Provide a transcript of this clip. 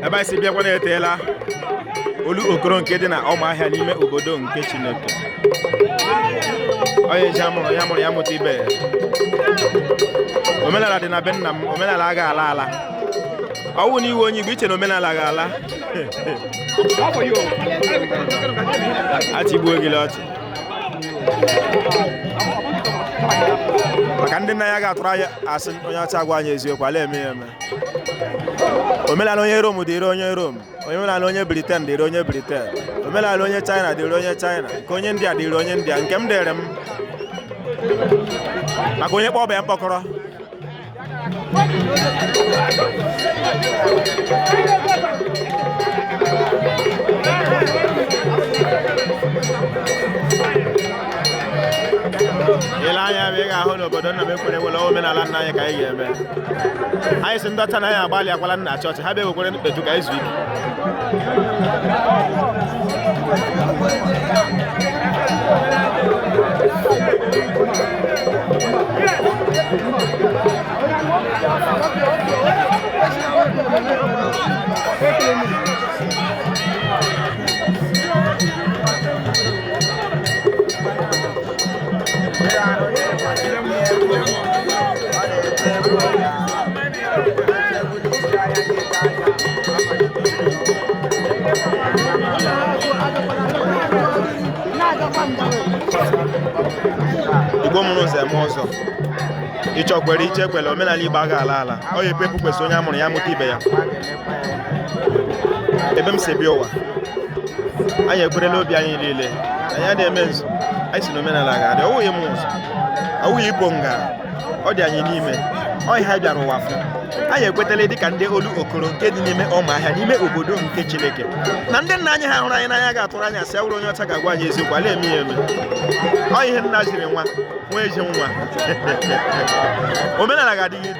ebe anyị si bịakwa na-eteela olokoro nke dị na ụmụahịa n'ime obodo nke chineke onye ji amụrụ ya mụrụ ya mụta ibe ya omenala dị na be nna m omenala aga ala ala ọ wụ na ị wụ onye igbo i chee na omenala ga-ala achịgbuo gị ọchị maka ndị nna anyị aga atụrụ anyị asị onye ọcha agwa anyị eziokwu ala eme ya eme omenala onye rom dịrị onye rom omenala onye briten dịrị onye briten omenala onye china dịrị onye china nke onye india dịrị onye india nke m dịrị m maka onye kpọọ ọba ya mkpọkọrọ i lee anya ebe ị ga-ahụ n'obodo nna m ekwere ekwele omenala nna anyị ka anyị ga-eme anyị sị ndị ọcha na anyị agbalịakwala na chọọchị ha bịa ewekwere mkpeju ka anyị zuo ike igbo mụrụ ụzọ eme ọzọ ị chọọ kwere ị chọọ ekwele omenala igbo aga ala ala ọ ya epepu kwesị onye a mụrụ ya mụta ibe ya ebe m si bịa ụwa anyị ekwerela obi anyị niile anyị a na-eme nzu anyị sị na omenala ga-adị ọ wụghị m ụzọ ọ wụghị ibo nga ọ dị anyị n'ime ọ ihe anyị bịara ụwa fụ anyị ekwetala dị ka ndị olokoro nke dị n'ime ụmụahịa n'ime obodo nke chineke na ndị nna anyị ha hụrụ anyị n'anya aga atụrụ anyị asị ọ wụrụ onye ọcha ga-agwa anyị eziokwu ala eme ya eme ọ ihe nna ziri nwa nwa ezi nwa omenala ga-adị